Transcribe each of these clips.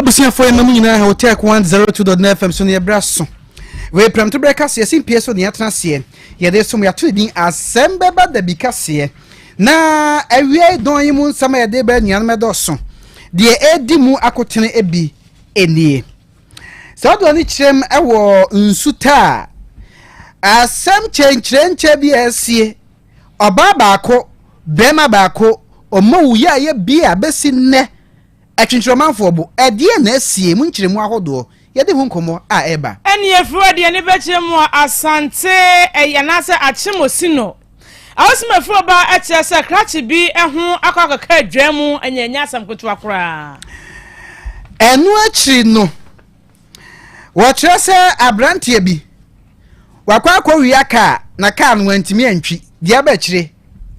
abusuafoɔ yɛma mo nyinaa ha wɔte ako 102.9 fm so ne yɛbrɛ aso wei prɛmto berɛ kaseɛ yɛsi mpie so ne yɛatena aseɛ yɛde som yɛato ne din asɛm bɛba dabi kaseɛ na awiai dɔn yi mu nsɛm a yɛde bɛ anuanom ɛdɔɔso deɛ ɛdi mu akotene ebi ɛnie saa dɔn no kyerɛm ɛwɔ nsu taa asɛm kyɛnkyerɛnkyɛ bi a ɛsie ɔbaa baako bɛrima baako ɔma wuyi a yɛ bi a bɛsi nnɛ Atwintwirɔmanfoɔ bo, ɛdeɛn na asie mu nkyerɛmu ahodoɔ, yɛde ho nkɔmmɔ a ɛreba. Ɛnni afiri a ɛde ani bɛkyerɛ mu a Asante ayi anaasɛ Akyem Osino a ɔsom afiri ɔba kyerɛ sɛ krakye bi ho akɔ akɔka adwaa mu, ɛnyɛ ɛnyɛ asɛm ketewa koraa. Ɛno akyiri no, Wɔkyerɛ sɛ aberanteɛ bi, wakɔ akɔwia kaa na kaa no wantumi antwi. Deɛ aba akyire,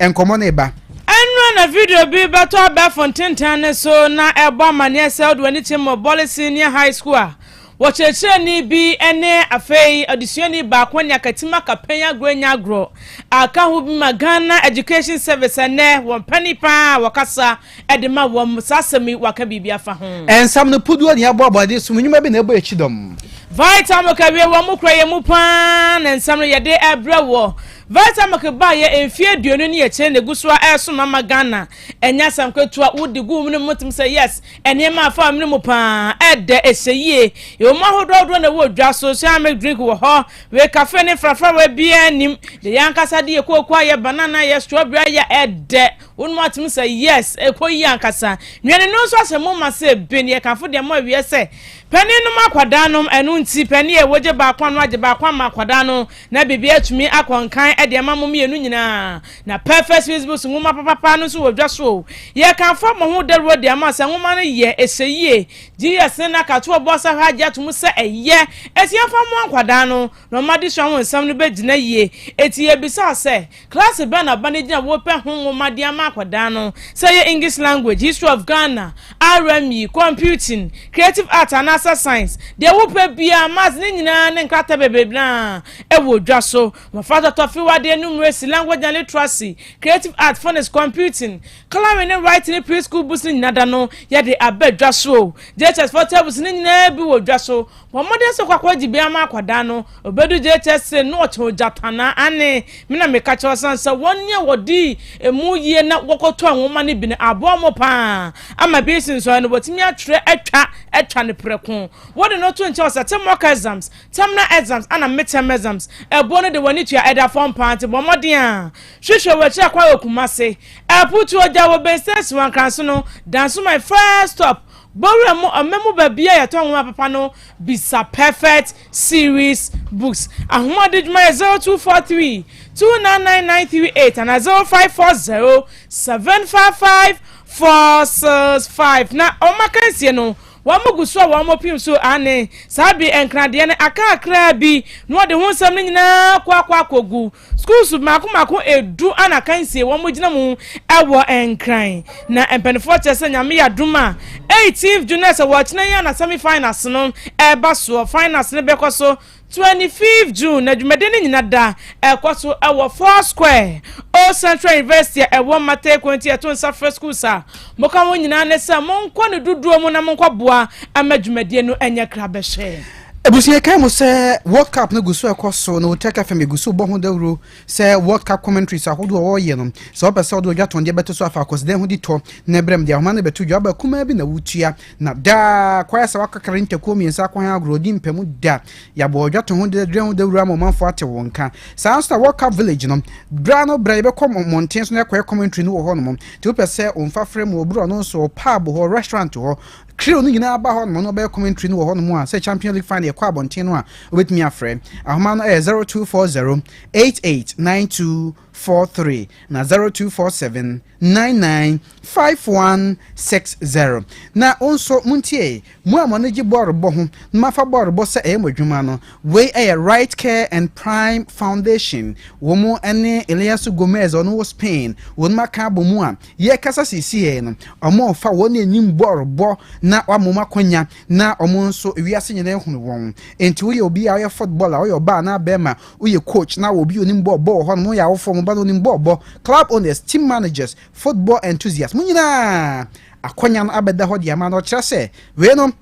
nkɔmmɔ no reba. Ɛnnora na video bi bɛtɔ abɛɛfo ntentan no so na ɛrebɔ amanneɛ sɛ wode w'ani kyem wɔ Bole Senior High School a, wɔkyerɛkyerɛni bi ne afei adesuani baako anya akatim aka pɛn agorɔ anya agorɔ a ɛka ho bi ma Ghana Education Service a ɛnnɛ wɔn panin paa a wɔkasa Ɛde ma wɔn. Saa asɛm yi, wɔaka biribi afa ho. Ɛnsɛm no puduo ne ɛboaboa de som nnwuma bi na ɛbɔ akyi dɔm. Vitamilk awie wɔn kura yɛn mu paa na nsɛm no yɛde ɛbrɛ wɔ. Vitamilk baayɛ mfie aduonu ne akyire na egu so a ɛresom ama Ghana. Ɛnyɛ asɛm ketewa wodi gu mu no mu tum sɛ yes nneɛma afa wɔn no mu paa ɛdɛ ɛhyɛ yie. Ɛwɔ mu ahodoɔ ahodoɔ na ɛwɔ dwa so soya milk drink wɔ hɔ wei cafe ne frafrawa biara nim de yɛn ankasa de yɛ kooko ayɛ banana ayɛ strawberry ayɛ ɛdɛ. Wo nom atom sɛ yes ɛkɔ yie ankasa. Nnuane no nso ahyɛ mo ma sɛ bin, yɛkamfo deɛ mo awiɛ sɛ, Panin nom akwadaa nom, ɛno nti panin a ɛwɔ gye baako ano agye baako ama akwadaa no na biribiara atumi akɔ nkan ɛde ama mo mmienu nyinaa. Na Perfect Swiss Books nwoma papapaa no nso wɔ dwa so o. Yɛkamfo abɔ ho dawuro de ama sɛ nwoma no yɛ, ɛhyɛ yie, Jesus ne n'akatoɔ bɔ ɔsahwɛ agye ato mu sɛ ɛyɛ, ɛti yɛmfa mmoa nkwadaa no na wɔn adesua ho nsɛm no bɛgyina yie. Ɛti yɛbisaa sɛ, Klaase bɛn na ba no gyina Wopɛ ho nwoma de ama akwadaa no, sɛ ɛyɛ English language, History of Ghana, RME, Computing, Creative Arts anaasɛ Science? Deɛ wopɛ biara, Maths, ne nyinaa ne nkrataa bebrebe no ara wɔ dwa so. Mmɔfra tɔtɔfe wɔ adeɛ numeresi, language and literacy, creative arts, phonics, computing, colouring ne writing ne pre-school books no nyina da no yɛde aba dwa so o. JHS foɔ tables no nyinaa bi wɔ dwa so. Bɔ mmɔden sɛ wobɛkɔ akɔgyebea ama akwadaa no. Obedu gyerekyɛse na ɔkyɛ ogyatannaa. Aane, me na meka kyerɛ wo, esiane sɛ wɔne a wɔdii emu yie na wɔkɔtɔɔ nwoma no bi no aboa wɔn pa ara ama bi resi nsɔhwɛ no, wɔatumi atwerɛ atwa atwa no prɛko. Wode no to nkyɛn hɔ sɛ, te mock exams, terminal exams, ɛna midterm exams. Ɛboɔ no de w'ani tua ɛda fam pa ara, nti bɔ mmɔden ara hwehwɛ wɔ akyiri akwan wɔ Kumasi. Aputuo, gya wɔ Benston Asiwa Nkranso no, Dansoman, first stop, Bowura mu ɔma mu baabi a yɛtɔ nwoma papa no bisa Perfect Series Books. Ahoɔdedwuma yɛ zero two four three two nine nine nine three eight anaa zero five four zero seven five five four six five na wɔn akansie no wɔn gu so a wɔn pim so aane saa bere nkradeɛ no aka kakraa bi na wɔde ho nsɛm no nyinaa kɔ akɔ akɔgu Schools mmaako mmaako edu ana akansie wɔn gyina mu ɛwɔ Nkran na mpanyinfoɔ kyerɛ sɛ nyame yɛ adum a 18th June ɛsɛ wɔ kyena yi ana semi finals no ɛba soɔ finals no bɛkɔ so 25th June na dwumadie no nyina da ɛkɔ so ɛwɔ four square Old Central University a ɛwɔ Mata Eko nti ɛto nsa frɛ schools a moka wɔn nyinaa ne sɛ monkɔ ne dodoɔ mu na monkɔ boa ama dwumadie no ɛnyɛ krabɛhwɛ. Abusua kae mu sɛ World Cup no gu so rekɔ so na wɔn fam egu so bɔ ho dawuro sɛ World Cup commentaries ahodoɔ a wɔreyɛ no, sɛ wɔpɛ sɛ wɔde wɔn dwatɔndeɛ bɛto so afa akwanside ho di tɔ na ɛbrɛ mu de ahoma no bɛto dwa. Ɔbaa kumaa bi na wotua, na daa kwaeɛ sɛ wɔakakra ne ntakuo mmiɛnsa akɔ hɛn agorɔ di mpamu da. Yɛabɔ wɔn dwatɔn ho dwatɔndeɛ ho dawuro ama ɔmanfoɔ atew wɔn nka. Saa ara nso na World Cup Village no, berɛ ano berɛ yɛbɛkɔ mmɔnten so na yɛakɔyɛ commentary no wɔ hɔnom nti wopɛ sɛ wɔmfa frɛ mu wɔ borɔno so, wɔ pub hɔ, restaurant hɔ, Trio no nyinaa ba hɔnom na wɔbɛyɛ commentary no wɔ hɔnom a sɛ Champion League final ɛkɔ abɔnten no a wobɛtumi afrɛ. Ahoma no ɛyɛ 0240 889243 na 0247 99 5160. Na wo nso montie, mo a mo ani gye bɔɔlobɔ ho na moafa bɔɔlobɔ sɛ ɛyɛ mo adwuma no, wei ɛyɛ Right Care and Prime Foundation, wɔn ne Eliasu Gomez a ɔno wɔ Spain, wɔn aka abɔ mu a Yɛrekasa seesei no, wɔrefa wɔn a anim bɔ rebɔ na wɔama wɔn akwannya, na wɔn nso wiase nyinaa ahunu wɔn. Enti woyɛ obi a woyɛ football a, woyɛ ɔbaa anaa barima, woyɛ coach na obi a onim bɔɔl bɔ wɔ hɔnom, woyɛ awofo a mo ba no nim bɔɔl bɔ, club owners, team managers, football enthusiasts, mo nyinaa akwannya no abɛda hɔ de ama no. Ɔkyerɛ sɛ, Wei no,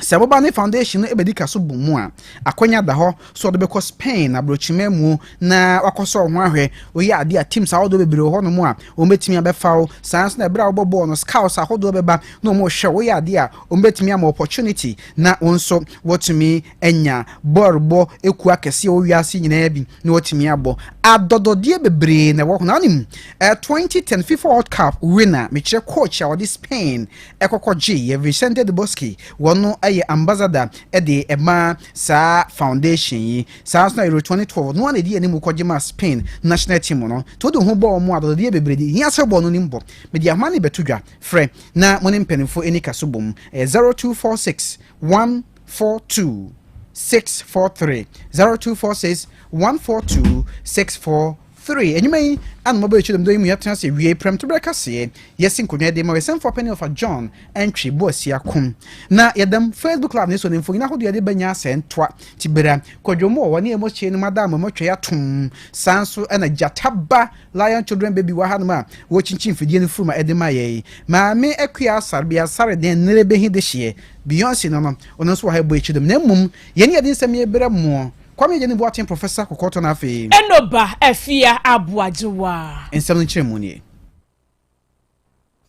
Sɛ boba ne foundation no bedi ka so bɔ mu a, akwanya da hɔ sɛ ɔde bɛkɔ Spain aborɔkyima mu na wakɔsɔ ho ahwɛ. Woyɛ ade a, teams ahodoɔ bebree wɔ hɔnom a wɔbɛtumi abɛfa wo. Saa ara nso na berɛ a wobɔ bɔɔl no, scouts ahodoɔ bɛba na wɔrehwɛ wo. Woyɛ ade a, wɔbɛtumi ama wo opportunity na wo nso woatumi anya bɔɔlbɔ kuo akɛseɛ wɔ wiase nyinaa bi na woatumi abɔ. Adɔdɔdeɛ bebree na ɛwɔ ho. Na wonim, 2010 fifa world cup winner, mekyerɛ coach a ɔde Spain kɔkɔ gyee yɛ Vicente de Bosque wɔ no yɛ ambassador de maa saa foundation yi saa nso na Euro 2012 no ara na ɛdi anim kɔgye maa Spain national team no nti wode wo ho bɔ wɔn a adɔdɔdeɛ bebree de hia sɛ wobɔ no nim bɔ mede ahoma ne bɛto dwa frɛ na mo ne mpanimfoɔ ɛni ka so bom ɛyɛ 0246 142 643 0246 142 643 Three, Enyimba yi, a no mɔbɔ ekyir dɛm da yi mu yɛatena ase ewie prɛmtober kaseɛ, yɛsi nkonnwa de ma Ɔyɛsɛmfua Panyin Ɔfa John Antwi Boasia Kum. Na yɛdam Facebook Live na eso ne mfonyin ahodoɔ yɛde bɛnya asɛɛ ntoa, Tibera, Kwadwo Moore wɔ ne Amos Kyei no mu adaa mɔmɔ twɛe atom. Saa nso na Gyata Ba Lion Children Baby wɔ hanom a wɔrekyinkyin mfidie no furu ma ɛde ma yɛn. Maame Akua Asare Bia Asare deɛ nnɛrɛ bɛhi dehyeɛ, Beyonce no no, ɔno nso wɔ ha ɛbɔ ekyir dɛm. Na mmom, yɛn ne yɛde nsɛm yi berɛ moɔ. Kwame Agyani Boateng Professor Kɔkɔɔtɔ na afei. Enoba Afia Aboagyewa. Nsɛm no nkyerɛmu nie.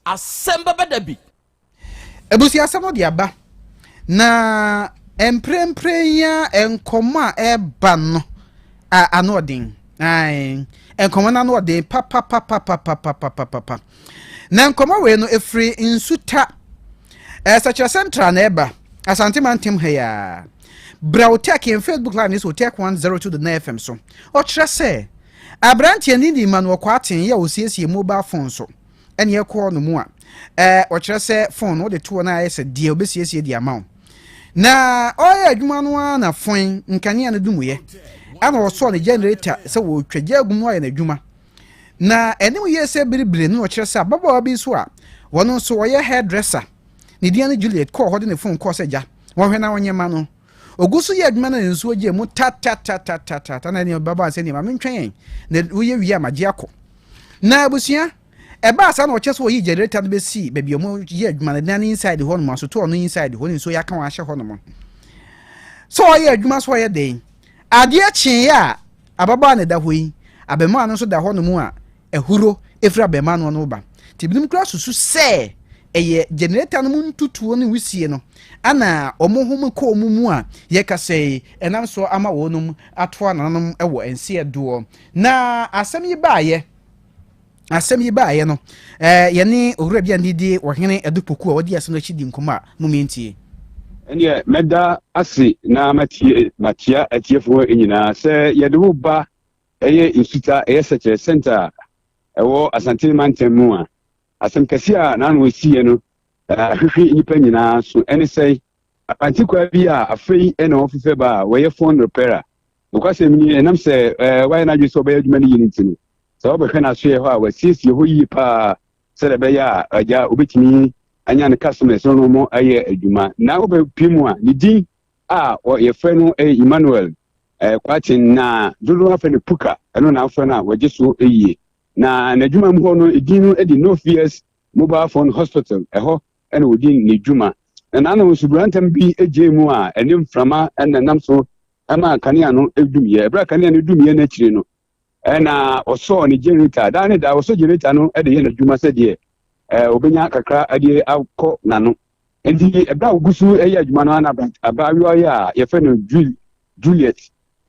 Asɛm bɛba da bi. Abusuasɛm no de aba, na mprempren yi ara nkɔmmɔ a ɛreba no a ano ɔden, ae, nkɔmmɔ no ano ɔden papapapapapapapapa. Na nkɔmmɔ wei no ɛfiri Nsuta ɛsɛkyerɛsɛm tra na ɛba Asante mantam ha yi a Brɛ wo tɛk yɛn Facebook live ne so tɛk 102.9 FM so ɔkyerɛ sɛ aberanteɛ ne ni ma no ɔkɔ aten yɛ ɔsiesie mobile phone so ɛne ɛkɔɔ no mu a ɛɛ ɔkyerɛ sɛ phone no wode toɔ no ayɛ sɛ deɛ ɔbɛsiesie de ama wo na ɔyɛ adwuma no ara na fon nkanea no dumuyɛ ɛna ɔsɔɔ ne generator sɛ wɔtwa gya agu mu ayɛ n'adwuma Na anim yie sɛ biribiri no na ɔkyerɛ sɛ ababaawa bi nso a ɔno nso ɔyɛ hairdresser, ne din ne Juliet kɔɔ hɔ de ne fon kɔɔ sɛ gya, wɔnhwɛ na wɔnyɛ mma no. Ogu so yɛ adwuma no na nsuo gyee mu tatatatatata na ɛne ɔbabaa sɛ nneɛ maame ntwɛn yɛn na woyɛ wie a magye akɔ. Na abusua, ɛbaa saa na ɔkyerɛ sɛ wɔyii generator no bɛsii baabi a wɔyɛ adwuma no na ne inside hɔ nom asotu ɔno inside hɔ ne nsuo yɛ aka wɔn ahyɛ hɔ nom sɛ ɔyɛ adwuma so ɔyɛ den. Adeɛ kyeeɛ a Ababaa na ɛda hɔ yi, abarimaa no nso da hɔnom a ahuro firi abarimaa no ano reba. Nti ebinom koraa susu sɛ ɛyɛ generator no mu ntutuo ne wisie no na wɔn home kɔ wɔn mu a yɛkasa yi ɛnam so ama wɔnom atoa nananom wɔ nseɛ doɔ. Na asɛm yi baeɛ. Asɛm yi baeɛ no, ɛɛ yɛne owura bi a ne di Ɔhene Adu Poku a ɔdi asɛm no akyi di nkɔmmɔ a mo mmie ntie. Ɛneɛ mɛda ase na matie makyea atiefoɔ nyinaa. Sɛ yɛde wo ba ɛyɛ Nsuta ɛyɛ Sɛkyerɛ Center a ɛwɔ Asante mantam mu a, asɛm kɛseɛ a n'ano asiiɛ no ahwehwe nnipa nyinaa so ɛne sɛe Asante kwaa bi a afei na wɔfefɛ ba a wɔyɛ phone repair a nokwasɛm ni ɛnam sɛ ɛɛ wayɛ n'adwene sɛ ɔbɛyɛ adwuma no yie no nti no sɛ wɔbɛhwɛ n'asoɛ hɔ a wɔasiesie hɔ yie paa sɛdeɛ ɛbɛyɛ a agya obɛtumi anya ne customers no mo ayɛ adwuma na wobɛpie mu a ne din a wɔyɛfrɛ no ɛyɛ Emmanuel ɛɛ kwaten na dodoɔ afɛ no puka ɛno na afɛ no a wɔgye so yie na n'adwuma mu hɔ no edin no de no fears mobile phone hospital ɛhɔ na odi ne dwuma. Na n'ano no suburantam bi gyee mu a ɛne mframa na ɛnam so maa kanea no dumiiɛ. Ɛberɛ a kanea no dumiiɛ no akyire no, na ɔsɔɔ ne generator. Daa ne daa ɔsɔ generator no de yɛ n'adwuma sɛdeɛ ɔbɛnya kakra de akɔ n'ano. Enti ɛberɛ a wɔgu so yɛ adwuma no na abaayewa yi a yɛfrɛ no Juliet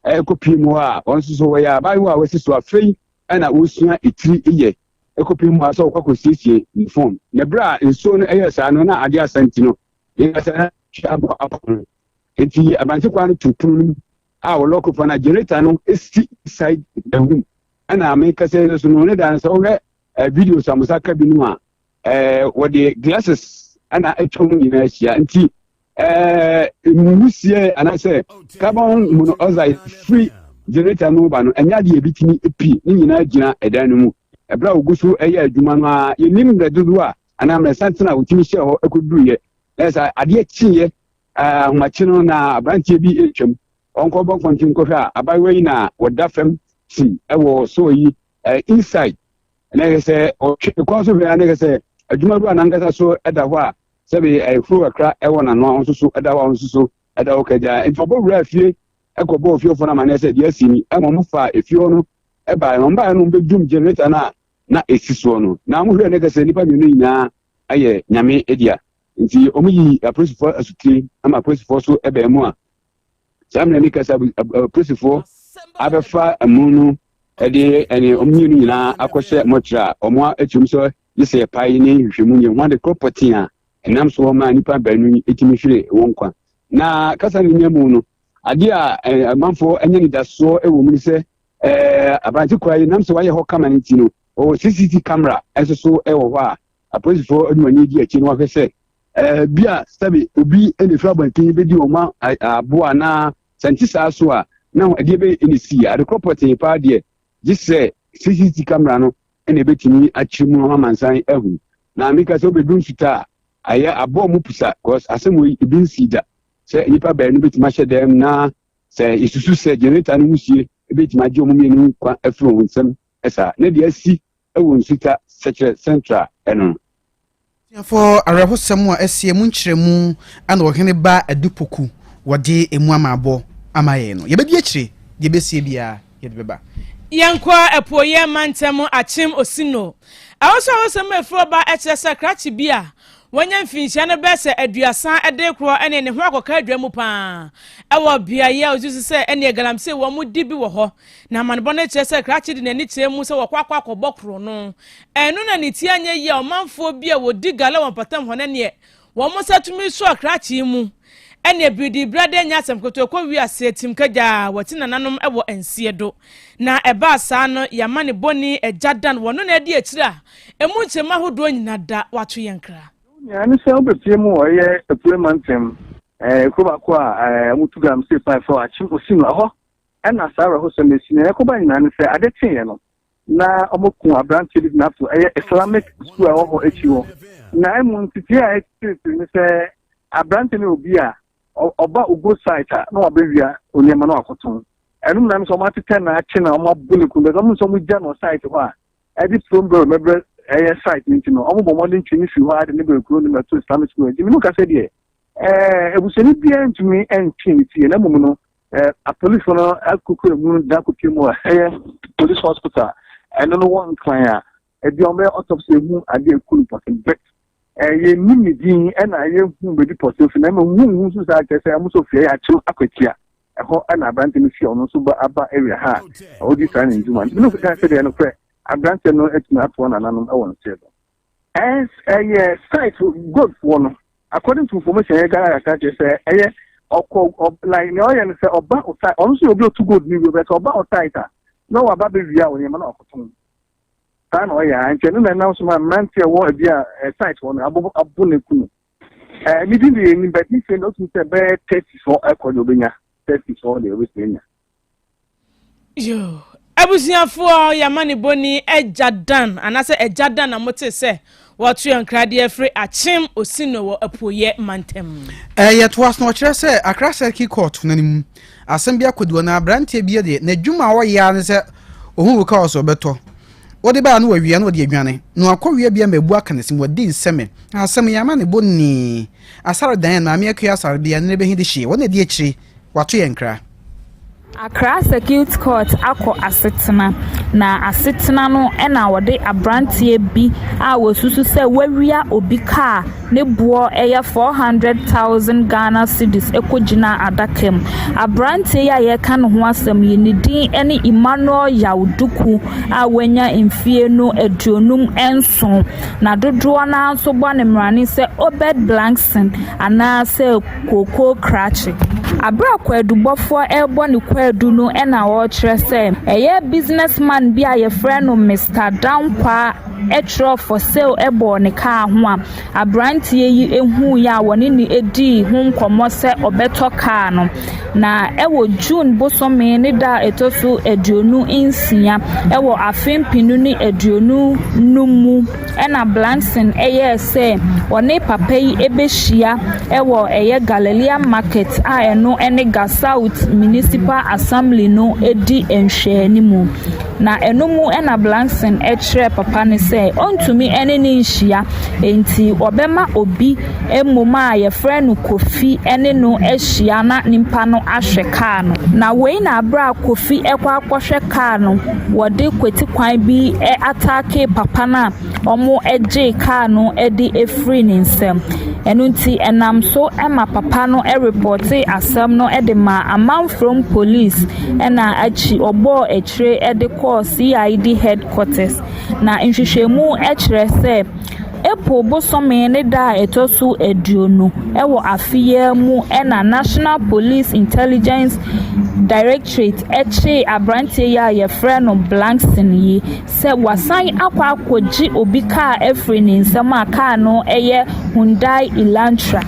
ɛrekɔpie mu hɔ a ɔno nso so ɔyɛ abaayewa a wasi so afei na ɔresua etiri yɛ. kɔpem mu ara sɛ ɔkɔ kɔsiesie ne fon. Na berɛ a nsuo no yɛɛ saa no, na adeɛ asa nti no, yɛn kasa na twi abɔ apɔ no. Enti abansɛ kwan no to pono no mu a wɔlɔko fa no a generator no si side the room ɛna me kasa yɛ so no ne dan sɛ wohwɛ eh, videos a mo sa ka binom a eh, wɔde glasses ɛna atwa mu nyinaa ahyia nti ɛɛ mu wusie anaasɛ carbon monoxide firi generator no ba no ɛnyɛ adeɛ ebi tumi pi ne nyinaa gyina ɛdan no mu ɛberɛ a ogu so ɛyɛ adwuma no a yɛnim mmerɛ dodoɔ a anaa mmerɛ santena a wotumi hyɛ hɔ ɛkɔduruiɛ na ɛsɛ adeɛ kyeeɛ ahomakye no na aberanteɛ bi ɛtwam ɔnkɔbɔ nkɔnten nkɔhwɛ a abayewa yi na wɔda fam si ɛwɔ sɔɔ yi inside na ɛsɛ ɔtwe kɔn so hwɛ na ɛsɛ adwuma bi a nankasa so ɛda hɔ a sɛbe ayefuro kakra wɔ n'ano a ɔnsoso da hɔ a ɔnsoso da hɔ kagya. Nti ɔbɔwuraa fie kɔbɔɔ ofiefoɔ no amanneɛ sɛ deɛ asi ni. Ɛma ɔmo faa efie hɔ no baeɛ. Ɔmo baeɛ no ɔmo bɛdum generator no a na esi soɔ no. Na ɔmo hwɛɛ no kɛsɛ nnipa mmienu yi nyinaa yɛ nyame dea. Nti ɔmo yii apolisifoɔ asutire ma apolisifoɔ so bɛɛ mu a saa mmerɛ no kɛsɛ apolisifoɔ abɛfa amu no ɛdeɛ ɛne ɔmo mmienu nyinaa akɔhyɛ mɔkyerɛ a ɔmo akyerɛ mu sɛ gye sɛ yɛpae ne nhwehwɛmu yɛ ho ade koro pɔtee a ɛnam so maa nnipa baanu yi tumi hwere wɔn nkwa. Na kasa no mmamu no, ade a amanfoɔ anya nidasoɔ wɔ mu ne sɛ aberante kura yi nam sɛ wayɛ hɔ kama no nti no, ɔwɔ CCTV camera nso so wɔ hɔ a apolisifoɔ de wɔn ani di akyi na wɔahwɛ sɛ bi a sɛbe obi na ɛfiri abɔnten bɛdi wɔn aboa anaa sɛ nte saa so a na ɛdeɛ bɛyɛ ɛna sii adekorɔ pɔtee paa deɛ gye sɛ CCTV camera no na ebetumi akyerɛ mu ama amansan ahu na meka sɛ wobɛdu nsuta a ayɛ abɔɔ mu pusa cause asɛm wɔ yi ebi nsii da sɛ nnipa baanu bɛtumi ahyɛ dɛm na sɛ yɛsusu sɛ generator no mu sie ebɛtumi agye ɔmo mmienu kwa afiri wɔn nsam ɛsaa na deɛ asi ɛwɔ nsuta sɛkyerɛ central ɛno Atuafoɔ awerɛhosɛm a ɛsi emu nkyerɛmu na ɔhene ba Adupoku wɔde emu amaabɔ ama yɛn no, yɛbɛdi akyire, deɛ ɛbɛsie biara yɛde bɛba. Yɛnkɔ Apueeɛ mantam Akyem Osino. Ɛhɔ so ahosɛm a ɛfiri ɔba kyerɛ sɛ krakye bi a wanya mfinhyia no bɛyɛ sɛ aduasa de rekorɔ ne ne ho akɔka adwa mu pa ara wɔ beaeɛ a ɔgye so sɛ ɛneɛ galamsey wɔn di bi wɔ hɔ na amanebɔ no kyerɛ sɛ krakye de n'ani kyerɛ mu sɛ wɔkɔ akɔ akɔbɔ korɔ no Ɛno na ne ti anyɛ yie a ɔmanfoɔ bi a wɔdi gala wɔ mpɔtam hɔ no neɛ wɔn nsa tumi sɔ akrakyee mu ɛneɛ biridiibra dɛ nyɛ asɛm ketewa kɔ wiase atim kagyaa wɔte nananom wɔ nsie do na ɛbaa saa no yɛma ne bɔne agya dan wɔ no na adi akyiri a ɛmu nkyɛmu ahodoɔ nyina da wato yɛn kra. Nyinaa ne sɛ wobɛpie mu wɔ ɛyɛ apue mantam ɛɛ kuro baako a ɛɛ wɔn tu gram state pipe fɔ akyem osi no ɛhɔ ɛna saa awerɛhosɛm esi na ɛkɔba nyinaa ne sɛ ade teeɛ no na wɔkuu aberanteɛ bi gyina so ɛyɛ islamic school a ɛwɔ hɔ akyi hɔ na ɛmu ntetee a ɛtete ne sɛ aberanteɛ no obi a ɔba ogo site a na wabɛwia onneɛma no akoto ɛno mu na no sɛ wɔatetɛ na akye na wɔabo ne kunu bɛsɛ wɔn nso wɔgya no site hɔ a ɛde from bɛrɛ mɛbrɛ ɛyɛ site no nti no wɔbɔ mmɔden twe ne fi hɔ a de ne bɛrɛ kuro ne mɛto islamic school nti menu kasa deɛ ɛɛ ebusuani biara ntumi ntwe ne fie na mmom no Apolisifo no akokura mu da akɔpie mu a ɛyɛ police hospital a ɛno no wɔ nkran a ebi wɔn bɛyɛ autopsy ehu ade eku no pɔtee bɛ ɛyɛ nim ne din ɛna ɛyɛ hu baabi pɔtee fi na ɛma hu hu nso saa kyerɛ sɛ ɛmo nso fie yɛ akyem akwatia ɛhɔ ɛna aberante no fie ɔno nso ba aba area ha a ɔdi saa ne ndwuma nti bi no nso kan sɛ deɛ no korɛ aberante no atumi ato wɔn nananom ɛwɔ nseɛ do. Ɛns ɛyɛ site gold foɔ no according to information yɛ Ghana yɛka kyerɛ sɛ ɛyɛ ɔkɔ ɔb like nea ɔyɛ no sɛ ɔba o site ɔno nso yɛ obi otu gold ne wura sɛ ɔba o site a na waba bɛ wia o nneɛma na wakɔtɔn saa na ɔyɛ a nti ɛno na ɛnam so ma mmeranteɛ wɔ ebi a ɛ site hɔ no abo abo na eku no ɛɛ ne din de yɛ nim bɛ din sɛ na otumi sɛ bɛyɛ thirty sɔ ɛkɔ deɛ obenya thirty sɔ deɛ obetumi anya Abusuafoɔ, yɛn amanebɔni Agya Dan, anaasɛ Agya Dan na motee sɛ wɔato yɛn nkradeɛ firi Akyem Osino wɔ Apueeɛ mantam. Eh, yɛtoa so na ɔkyerɛ sɛ Accra Circuit Court no mu asɛm bi akɔdi hɔ na aberanteɛ bi deɛ n'adwuma a ɔyɛ ara ne sɛ ɔhu wo kaa ɔsɛ ɔbɛtɔ wode baa na wawia na ɔde adwane na wakɔwia bia mmabu aka ne se mu ɔde nsɛmɛ asɛm yɛn amanebɔni Asare Dan Maame Akua Asare bia nnɛ bɛhi de hyeɛ wɔn na ɛdi akyire Wato yɛn kra. Accra Circuit Court akɔ asetena, na asetena no na wɔde aberanteɛ bi a wɔsusu sɛ wawia obi ka a ne boɔ yɛ 400,000 Ghana cedis kɔgyinaa adaka mu. Aberanteɛ yi a yɛreka ne ho asɛm yi, ne din ne Emmanuel Yaw Duku a wanya mfeɛ no aduonum nson, na dodoɔ no ara nso bɔ ne mmara ne sɛ Obed Blankson anaasɛ kooko krakye. Bere a kwaadubɔfoɔ rebɔ ne kwaadu no na ɔrekyerɛ sɛ ɛyɛ business man bi a wɔfrɛ no Mister Dankwaa twerɛ for sale bɔɔ ne kaa ho a, aberanteɛ yi huiɛ a ɔne no dii ho nkɔmmɔ sɛ ɔbɛtɔ kaa no. Na wɔ June bosome ne da a ɛtɔ so aduonu nsia wɔ afe mpenu ne aduonu nnum mu. Ɛnna Blankson yɛɛ sɛ ɔne papa yi bɛhyia wɔ ɛyɛ Galilea Market a ɛno ne Ga South Municipal Assembly no di nhwɛanimu, na ɛno mu na Blankson kyerɛɛ papa no sɛ ɔntumi ne no nhyia, enti ɔbɛma obi. mmom a wɔfrɛ no Kofi ne no ahyia na nnipa no ahwɛ kaa no. Na wei na berɛ a Kofi rekɔ akɔhwɛ kaa no, wɔde kwati kwan bi ataakee papa no a wɔgyee kaa no de firii ne nsam. Ɛno nti, ɛnam so ma papa no repɔɔtee asɛm no de maa amanforom polis na akyiri yi wɔbɔɔ akyire de kɔɔ CID headquarters. Na nhwehwɛmu kyerɛ sɛ. April bosome ne da a ɛtɔ so aduonu wɔ afe yi ara mu na National Police Intelligence Directorate kyeree aberanteɛ yi a wɔfrɛ no Blankson yi sɛ wasan akɔ akɔgye obi kaa afiri ne nsam a kaa no yɛ Hyundai Elantra.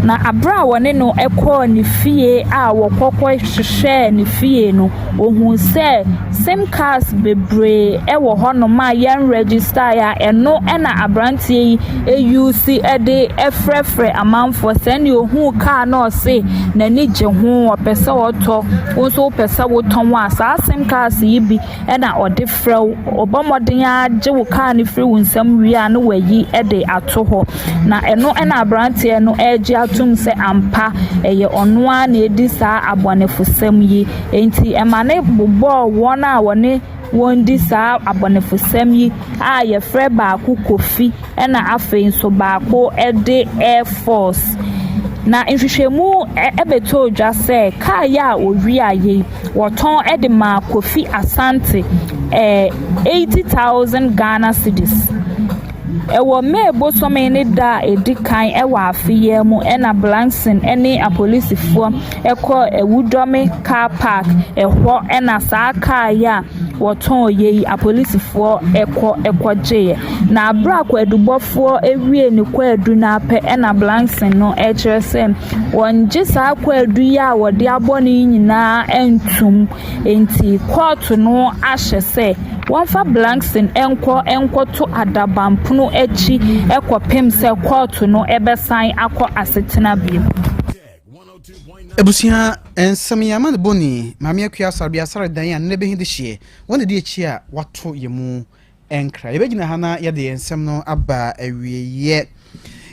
Na berɛ a wɔne no kɔɔ ne fie a wɔkɔ kɔhwehwɛɛ ne fie no, wɔhuu sɛ sim cars bebree wɔ hɔnom a yɛnregistaeɛ a ɛno na aberanteɛ yi ɛyuusi de frɛfrɛ amanfoɔ. Sɛ nea ohuu kaa no a ɔse n'ani gye ho, ɔpɛ sɛ ɔtɔ, wo nso wopɛ sɛ wotɔn a, saa sim cars yi bi na ɔde frɛ wo. Ɔbɔ mmɔden ara gye wo kaa no firi wo nsam wie a na wayi de ato hɔ. Na ɛno na aberanteɛ no regye atom sɛ ampa ɛyɛ ɔno ara na ɛredi saa abɔnefosɛm yi. Enti ɛma no bobɔɔ wɔn a wɔne wɔn di saa abɔnefosɛm yi a wɔfrɛ baako Kofi na afei nso baako de Air Force. Na nhwehwɛmu ɛ bɛtɔɔ dwa sɛ kaa yi a wɔwiaeɛ yi, wɔtɔn de maa Kofi Asante ɛɛ eighty thousand Ghana cedis. Wɔ May bosome ne da a ɛdi kan wɔ afe yi ara mu na Blakson ne apolisifoɔ kɔɔ awudɔme kaa park, ɛhɔ na saa kaa yi a wɔtɔeɛ yi, apolisifoɔ kɔ kɔgyeeɛ. Na berɛ a kwaadubɔfoɔ wiee ne kwaadu no ara pɛ na Blakson no kyerɛ sɛ wɔngye saa kwaadu yi a wɔde abɔ no yi nyinaa ntom. Enti kɔɔto no ahyɛ sɛ wɔmfa Blankson nkɔ nkɔto adaban pono akyi kɔpem sɛ kɔɔto no bɛsan akɔ asetena bio. Ebusua nsɛm yɛ ama ne boni, Maame Akua Asare bi asare dan a nnɛ bɛhi de hyeɛ, wɔn na di akyi a wɔato yɛ mu. ɛnkra. Yɛbɛgyina ha na yɛde yɛn nsɛm no aba awieeɛ.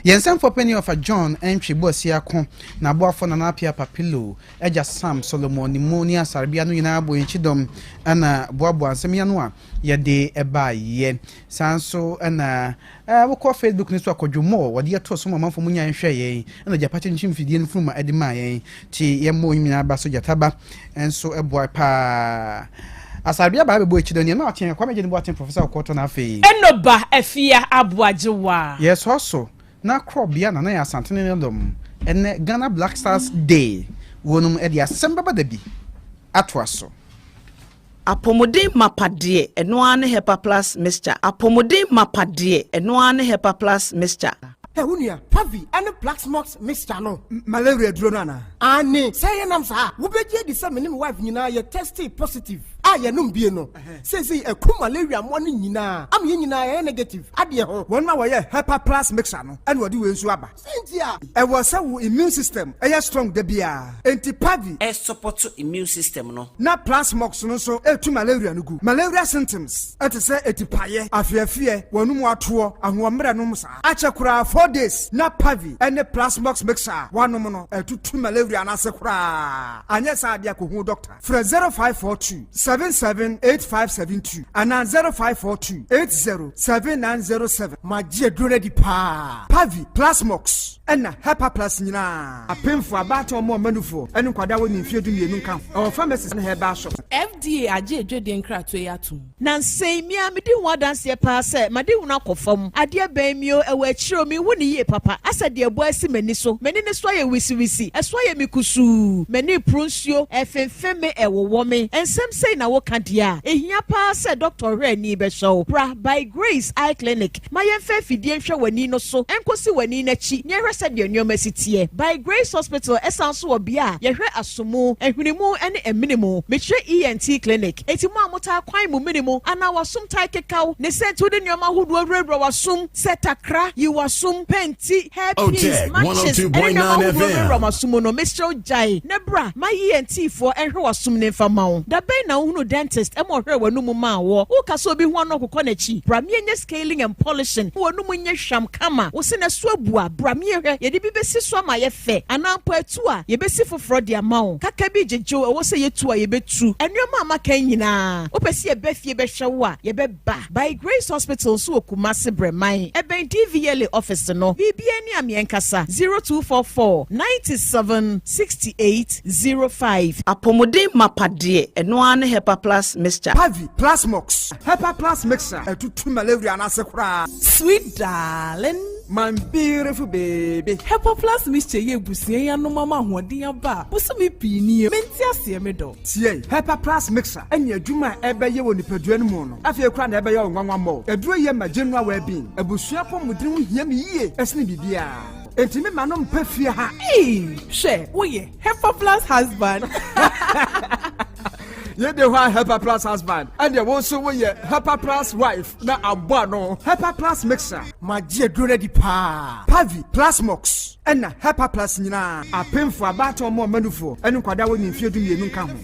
Yɛn nsɛmfoɔ panin ɔfa John Ntwi Boasiako, n'aboafoɔ Nana Appiah Apapilo, Agya Sam Solomon ne mu ne Asarebea no nyinaa bɔ yɛn kyidɔm na boaboa nsɛm yi ano a yɛde baeɛ. Saa nso na Aa wokɔ Facebook no so a kɔdwo more wɔde yɛ too so ma ɔmanfoɔ mo nyae nhwɛɛ yɛn ɛna gyapa kyinkyim fidie no funuma ɛde maa yɛn nti yɛn mo nyinaa ba so gyata ba nso ɛboa paa Asarabia baa bɛbɔ akyi dɔ nea na ɔteɛ Kwame Agyeni bɔ aten Professor Ɔkɔɔ tɔ no afei. Eno ba Afia Aboagyewa. Yɛ sɔɔ so na krɔ bia na na yɛ Asantene ne dɔm ɛnɛ Ghana Black Stars Day wɔ nom ɛde asɛm bɛba dabi atoa so. Apɔmuden mapa deɛ ɛno ara ne Hepa Plus Mixture Apɔmuden mapa deɛ ɛno ara ne Hepa Plus Mixture. Hɛ wo nua, Pavi ɛne Plaxmox Mixture no. Malaria duro no anaa? Aane, sɛ yɛ nam saa a, wo bɛ gye adi sɛ me ne me wife nyinaa yɛ tɛstee positive a yɛ nom bie no. Seisei ɛku malaria mmoa no nyinaa ama yɛn nyinaa yɛ yɛ negative adeɛ ho. Wɔn na wɔyɛ Hepa Plus Mixture no ɛna wɔde wei nso aba. Cynthia, Ɛwɔ sɛ wo immune system yɛ strong da biara. Enti Pavi. sɔpɔto immune system no. Na Plasmox no nso tu malaria no gu. Malaria symptoms te sɛ atipaeɛ, afeɛfeɛ, w'anomu atoɔ, ahoɔmmerɛ nom saa. Akyɛ koraa four days na Pavi ne Plasmox mixture a woanom no atutu malaria no ase koraa. Anyɛ saa adeɛ a kɔhu wo dɔkta. Frɛ 0542 778572 anaa 0542 807907 ma gye aduro no adi paa. Pavi, Plasmox, ɛna Hepa Plus nyinaa. Apemfo, abaatan mmoa mmanufoɔ, ne nkwadaa a wɔnni mfeɛ dumienu nka ho. Ɛwɔ pharmacies ne herbal shops. FDA agye adwadie nkratoɔ yi atom. Nansɛ yi, me ara medi ho adanseɛ paa sɛ m'adehunu akɔ fam. Adeɛ bɛn me o, ɛwɔ akyire o, menhu no yie papa. Asɛ deɛ ɛbɔ asi m'ani so. M'ani no so ayɛ wisiwisi. Ɛso ayɛ me kusuu. M'ani reporo nsuo. Ɛrefemfem me, ɛrewowɔ me. Nsɛm sei na woka deɛ a, ɛhia paa sɛ dɔktɔhwɛani bɛhwɛ wo. Bra By Grace Eye Clinic. Ma yɛmfa afidie nhwɛ w'ani no so nkɔsi w'ani no akyi na yɛhwɛ sɛdeɛ nneɛma si teɛ. By Grace Hospital ɛsan nso wɔ bea a yɛhwɛ aso mu, ahwene mu ne amene mu. Mekyerɛ ENT clinic. Enti mo a motaa kwan mo mene mu anaa w'asom taa keka wo, ne sɛ nti wode nneɛma ahodoɔ wurawura w'asom sɛ takra, yi w'asom, pɛn, ti hair pins matches ɛne nneɛma ahodoɔ no wura w'asom mu no mesrɛ wo gyae na bra ma yɛn tiifoɔ ɛnhwɛ w'asom no mfa ma wo da bɛn na wohunu dentist ɛma ɔhwɛɛ w'anum mu maa woɔ woka sɛ obi ho ano akokɔ n'akyi bra me yɛnyɛ scaling and polishing ma w'anum nyɛ hwam kama wo sene so abu a bra me yɛhwɛ yɛde bi bɛsi so ama ayɛ fɛ anaa mpo atu a yɛbɛsi foforɔ de ama wo kaka bi gyegyew ɛwɔ sɛ yɛtu a yɛbɛtu nneɛma a maka nyinaa wopɛ sɛ yɛba fie bɛhwɛ wo a yɛbɛ Ba, By Grace Hospital nso wɔ Kumasi Brɛman, ɛbɛn DVLA office no. Biribiara ni a me ankasa, zero two four four, ninety seven, sixty eight, zero five. Apɔmuden mapa deɛ ɛno ara ne Hepa Plus Mixture. Pavi Plus Mox, Hepa Plus Mixture, ɛtutu malaria no ase koraa. Sweet darling. My beautiful baby. Hepa Plus Mixture yɛ abusua yi anom ama ahoɔden aba a bosome pii nie. Mente aseɛ me dɔ. Tiei, Hepa Plus Mixture. ne adwuma a ɛbɛyɛ wɔ nipadua no mu no, afei koraa na ɛbɛyɛ wo nwanwa mmɔ wo. Aduro yɛ ma general well being. Abusua apɔmuden ho hia me yie sene biribiara. Enti me mma no mpa fie ha. Eii hwɛ woyɛ Hepa plus husband. Yɛ de hɔ a Hepa plus husband ɛdeɛ wo nso woyɛ Hepa plus wife na abɔ ano Hepa plus mixer. Magye aduro no adi paa. Pavi, Plasmox ɛna Hepa plus nyinaa. Apemfoɔ, abaatoɔ mmoa ɔmanufoɔ ɛne nkwadaa a wɔnyɛ mfeɛ du mmienu nka ho.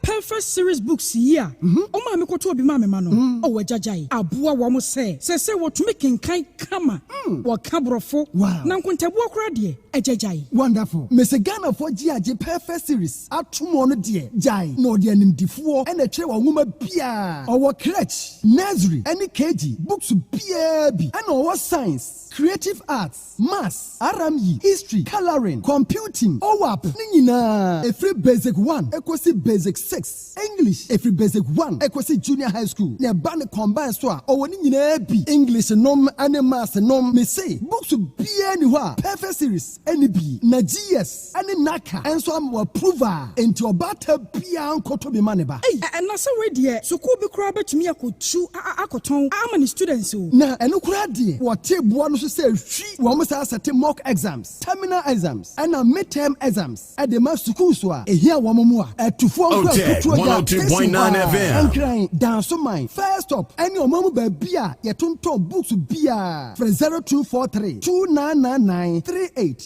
Perfect Series Books yi a ɔmaa me kɔtɔɔ bi maa me mma no, ɔwɔ agyagyae, aboa wɔn sɛ seesei wɔtumi kenkan kama, wɔka Borɔfo, na nkontabuo koraa deɛ, agyagyae. Wonderful! Me se Ghanafoɔ gye agye Perfect Series atom ɔno deɛ gyae na ɔde animdefoɔ na ɛtwerɛ wɔn nwoma biara. Ɔwɔ Crèche, Nursery, ne KG books biara bi ɛna ɔwɔ Science, Creative Arts, Maths, RME, History, Colouring, Computing, OAP no nyinaa, ɛfiri Basic One ɛkɔsi Basic Six, English, ɛfiri Basic One ɛkɔsi Junior High School, na ɛba no combined nso a, ɔwɔ ne nyinaa bi, English nom ne Maths nom. Mese, books biara nni hɔ a Perfect Series nni bi, na GS. ne Naka nso ama wɔaprove a, enti ɔbaata biara nkɔtɔ bi mma ne ba. Ei! Ɛna sɛ wei deɛ sukuu bi koraa bɛtumi akɔtu a akɔtɔn ama ne students o. Na ɛno koraa deɛ wɔtee boɔ no so sɛ hwi wɔn saa sɛte mock exams, terminal exams ɛna mid-term exams de ma sukuu so a ɛhia wɔn mu a atufoɔ nkura kutuo gya pese hɔ ara Nkran, Dansoman, First Stop ne ɔman mu baabi a yɛtontɔn books biara frɛ 0243 2999 38.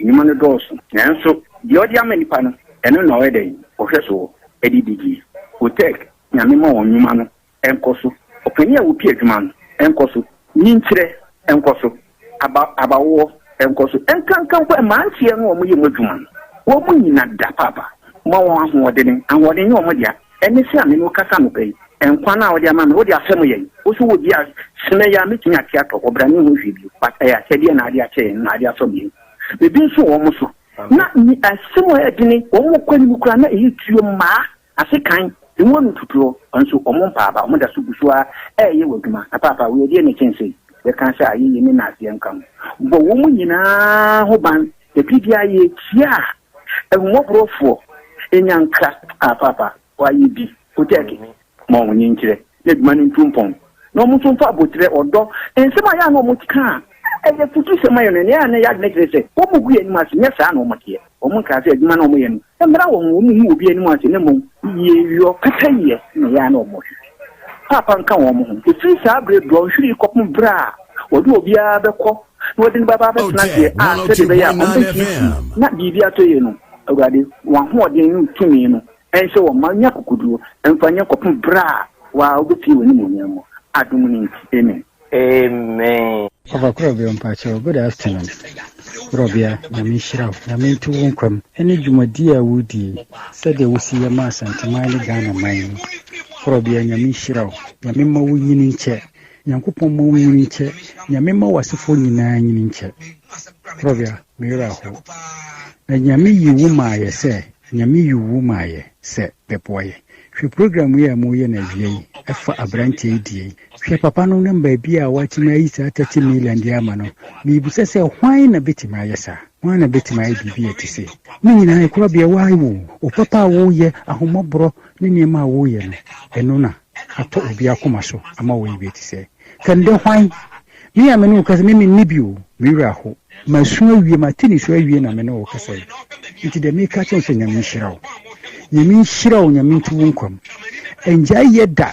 Nnwuma no dɔɔso, nanso deɛ ɔde ama nnipa no, ɛno na ɔyɛ dɛn? Ɔhwɛ soɔ de di dwuma. Oteg, Nyame ma wɔn nnwuma no nkɔ so. Ɔpanin a ɔpia adwuma no nkɔ so. Nyinkyerɛ nkɔ so. Aba abawoɔ nkɔ so. Ɛnkanka mpo mmeranteɛ no a wɔyɛ mu adwuma no, wɔn nyina da paapa. Ma wɔn ahoɔdene. Ahoɔden nyɛ wɔn dea. Ɛnnɛ sei a me ne wo kasa anɔpa yi, nkwa no a wode ama me, wode ahyɛ mo yɛn. Wo so wɔ bi a sene yɛn a mɛtumi ate atɔ, ɔbrane nho hwee bio, but ɛyɛ akyɛdeɛ na ade akyɛ yɛn, na ade asɔ me ani. Mede nso wɔn so. Na me asem a ɛyɛ dene, wɔn kɔ anim koraa na ɛyɛ tuo, mmaa ase kan, emu ano tutuo, nso wɔn mpaa aba, wɔn da so gu so ara reyɛ w'adwuma. Na Paapa, wo yɛ deɛ na ɛkyɛn sei, bɛka sɛ ayɛyie ne nnaaseɛ nka ho, bɔ wɔn nyinaa ho ban, da biara yɛ tia a Ahummɔborɔfoɔ nya nkra a paapa wɔayɛ bi, Kotɛɛke, ma wɔn ani nkyerɛ, na adwuma no ntu mpɔn, na wɔn nso mfa aboterɛ, ɔdɔ, nsɛm a ɛyɛ a na wɔte ka a ɛyɛ afutusɛm ma yɛn no, nea ɛyɛ a na ɛyɛ adwene kyerɛ sɛ wɔgu yɛn anim ase, nyɛ saa na wɔteɛ. Wɔn nkra sɛ adwuma no a wɔyɛ no mmra wɔn, wɔnhu obi anim ase, na mmom yieyɔ, pɛpɛyɛ na ɛyɛ a na wɔhwehwɛ. Paapa nka wɔn ho, ɛfiri saa berɛ Dɔnhwere yi kɔpem berɛ a wɔde obiara bɛkɔ na wɔde no bɛba abɛtena deɛ a sɛdeɛ ɛbɛyɛ a wɔbɛtumi si na biribi atɔ yie no awurade wɔn ahoɔden ne tumi no ɛnhyɛ wɔn ma nya kokoduro ɛmfa nyɛ kɔpem berɛ a waa wobɛpie wɔ animuonyam mu adom no nti amen amen Papa kura bia mpakyɛw good afternoon kura bia nyame nhyira wo nyame nto wo nkwam ɛne dwumadi a wodie sɛdeɛ wosi yɛ ma asanteman ne Ghana man yi kura bia nyame nhyira wo nyame mma wo nyini nkyɛ Nyankopɔn mma wo nyini nkyɛ Nyame mma w'asefoɔ nyinaa nyini nkyɛ Prɔvia me werɛ ho Na Nyame yi wo maayɛ sɛ Nyame yi wo maayɛ sɛ bɛboa yɛ Hwɛ program yi a mo yɛ no awia yi ɛfa abranteɛ yi deɛ yi Hwɛ papa no ne baabi a watumi ayi saa 30 million deɛ ama no Mebisa sɛ hwan na bɛtumi ayɛ saa hwan na bɛtumi ayɛ biribi a ɛte sei Ne nyinaa ɛkorabea why wo wo papa a wo yɛ ahommɔborɔ ne nneɛma a wo yɛ no ɛno na atɔ obiara koma so ama wayi bi adi sɛ, Kɛnde hwan? Me a me ne wo kasa yi, me menni bi o, me werɛ how. Masu awie, mate nisuo awie na me ne wo kasa yi. Nti deɛ meka akyerɛ wo sɛ Nyame nhyira wo. Nyame nhyira wo, Nyame nto wo nkwa mu. Ɛngyae yɛ da.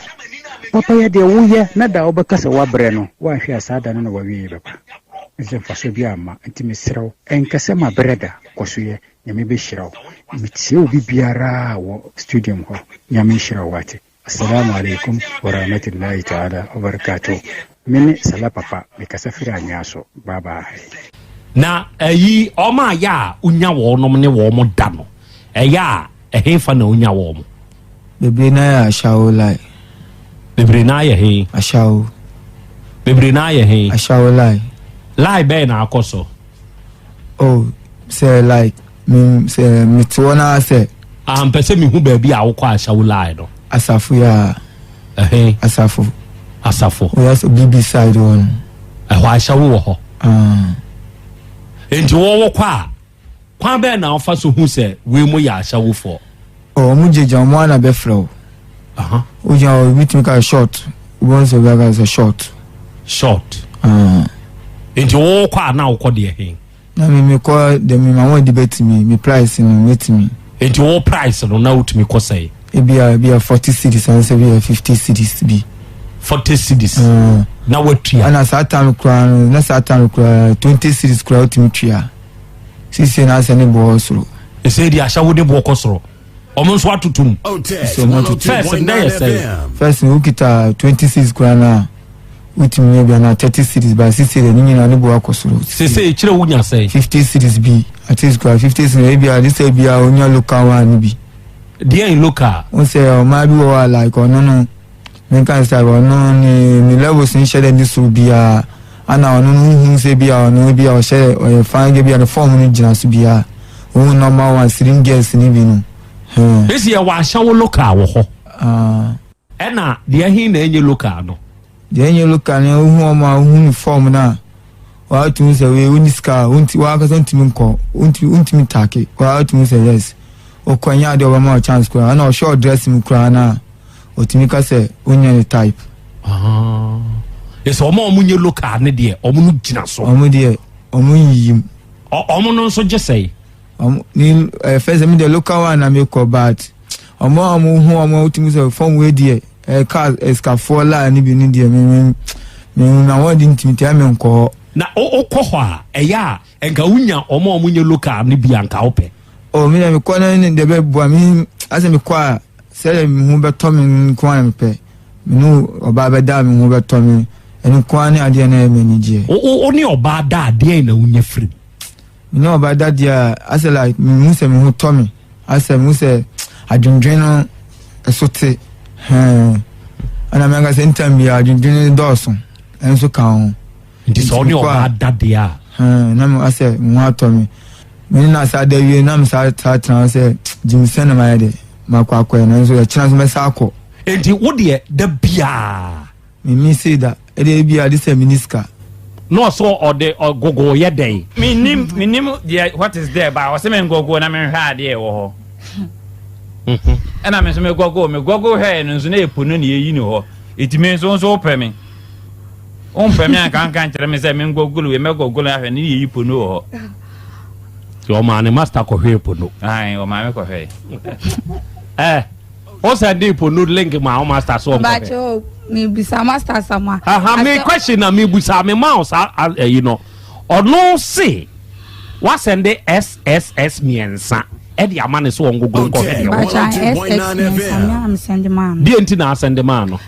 Papayɛ deɛ woyɛ na da a wobɛka sɛ woabrɛ no, woanhwɛ a saa da no na w'awieɛ bɛba. Ɛnsɛ mfasoɔ biara mma. Nti mesrɛ wo, ɛnkasɛ mabrɛ da, kɔ so yɛ. Nyame behyira wo. Metie wo bibiara wɔ studium hɔ. Nyame nhyira wo wate. Assalaamu alaikum wa rahmatullahi taala wa barakatuh. Me ne Salah papa me kasa firi Anyaso. Bye bye. Na ayi wɔn a ɛyɛ a wonya wɔnom ne wɔn da no, ɛyɛ a ɛhefa na wonya wɔn? Bebree no ara yɛ Ashawo Lai. Bebree no ara yɛ he? Ashawo. Bebree no ara yɛ he? Ashawo Lai. Lai bɛn na akɔ so? oh sɛ like mm, sɛ mete hɔ no ara sɛ Ah, mpɛ sɛ mehu baabi a wokɔ ahyɛ wo lie no asafo yɛ a ɛhe asafo asafo woyɛ sɛ bb side hɔ no ɛhɔ ahyɛ wo wɔ hɔ ah, enti wɔwɔ kɔ a kwan bɛɛ na wofa so hu sɛ wei mo yɛ ahyɛwofoɔ Wɔn gye gya wɔn ana bɛfrɛ wo. O gya o ebi tumi ka short wɔn sɛ bi aka sɛ short. Short. Nti wo kɔ a na wokɔ deɛ he. Na mi mi kɔ dɛm mi ma wɔn di bɛtumi mi price no mɛtumi. Nti wo price no na wotumi kɔ sɛe. Ebi a ebi a forty cities ansa ebi a fifty cities bi. Forty cities. Na watua. Ana saa time koraa no na saa time koraa twenty cities koraa wotumi tua. Sise na asɛ ne boɔ soro. Ɛsɛ deɛ ahyɛ wode boɔ kɔ soro ɔmo nso atutu mu. Sɛ ɔmo atutu. First ndɛ yɛ sɛ. First no wokita twenty six kura no a wotumi nya bi anaa thirty cities ba sisi deɛ ne nyinaa ne bo akɔ soro. Sese ekyirɛ wonya sɛ. fifty cities bi at least kura fifty cities ebi a ne sɛ ebi a wonya local one no bi. Deɛ in local. N sɛ ɔmaa bi wɔ hɔ a like ɔno no. Menka ne style, ɔno ne ne levels nhyɛ dɛ ne sor biara, ana ɔno no wohu no sɛ bi a ɔno bi a ɔhyɛ dɛ ɔyɛ fine girl bi a ne form no gyina so biara, wohu normal one slim girls no bi no huh. Esi yɛwɔ ahyɛwo local wɔ hɔ. Ah. Ɛna deɛ he na ɛnyɛ local no? Deɛ ɛnyɛ local no wohu wɔn a wohu ne form no a wɔatumi sɛ wei wonni sika a wonti wɔakasa ntumi nkɔ wontumi wontumi take wɔatumi sɛ yes wokɔ nyɛ adeɛ ɔbɛma wɔ chance koraa ɛna ɔhwɛ ɔdress mu koraa no a Otumi ka sɛ onya ne type. Ɛsɛ wɔn a wɔn nyɛ local ne deɛ wɔn no gyina so. Wɔn deɛ wɔn yiyim. Wɔn no nso gye sɛe. Wɔn ne ɛɛ fɛ sɛ mi deɛ local one na mi kɔ but wɔn a wɔn ho wɔn a wotumi sɛ fɔm wei deɛ ɛɛ car ɛsikafoɔ laa ne bi ne deɛ mi mi mi hu na wɔn de ntumi tia mi nkɔ hɔ. Na wokɔ hɔ a ɛyɛ a nka wonya wɔn a wɔn nyɛ local ne bi a nka wopɛ. O mi na mi kɔ na ne deɛ bɛ bua mi asɛ mi kɔ a. Sɛdeɛ me ho bɛtɔ me no nko ara na mepɛ, me ne ɔbaa bɛda a me ho bɛtɔ me, ɛno nko ara ne adeɛ na ɛyɛ me anigyeɛ. Wo wo wo ne ɔbaa da a, deɛn na wonya firi mu? Me ne ɔbaa da deɛ a, asɛ like mehu sɛ me ho tɔ me, asɛ mehu sɛ adwendwen no ɛso te, hɛn, ɛna me ankasa anytime biara adwendwen no dɔɔso nso ka ho. nti sɛ ɔne ɔbaa da deɛ a hmm, na meka sɛ me ho atɔ me mene na saa da wie na mesaa saa tena sɛ gyew sɛ na mayɛ dɛ makɔ akɔɛ nanso ɛkyena so mɛsa akɔ nti wo deɛ da biaa meme sei da ɛdeɛ biaa de sɛ mene sika na ɔsɛ ɔde ɔgogo yɛ dɛn menim menim deɛ what is there ba ɔsɛ mengogo na menhwɛ adeɛ ɛwɔ hɔ ɛna me nso megɔgo megɔgo hwɛɛ no nso na ɛpo no ne ɛyi no hɔ ɛtumi nso nso wopɛ me Womfrɛ me anka anka nkyerɛ me sɛ menkɔ golo wei mɛkɔ golo ahwɛ ne yɛyi pono wɔ hɔ. Nti ɔmaa ne master kɔhwɛɛ pono. Ae ɔmaa me kɔhwɛe. Ɛ eh, o sɛ de pono link ma o master so ɔnkɔhwɛ. Bàtchɛ o mebisa master sama. Aha me question na mebusa me ma o sa ɛyi no ɔno se wasɛnde SSS mmiɛnsa ɛde ama ne so ɔngogo nkɔhwɛ deɛ wɔ. Bàtchɛ SSS mmiɛnsa mi a mesɛnde maa no. Deɛ nti na asɛnde maa no.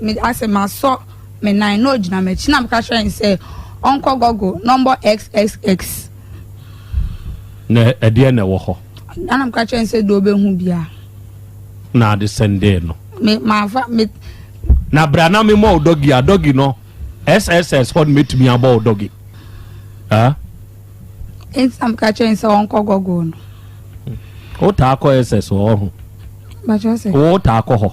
Me asɛ masɔ me nan na ogyina m'akyi na meka kyerɛ no sɛ ɔnkɔ Google na ɔmbɔ xxx. Na ɛdeɛ na ɛwɔ hɔ? Ana meka kyerɛ no sɛ deɛ ɔbɛhu bia. Na ade sɛndee no. Me mafa me. Na bra na memɔ wo dɔgi a dɔgi no sss hɔ no mɛtumi abɔ wo dɔgi. Ah? Nti na meka kyerɛ no sɛ ɔnkɔ Google no. Wotaa kɔ SS hɔ ho? Wotaa kɔ hɔ?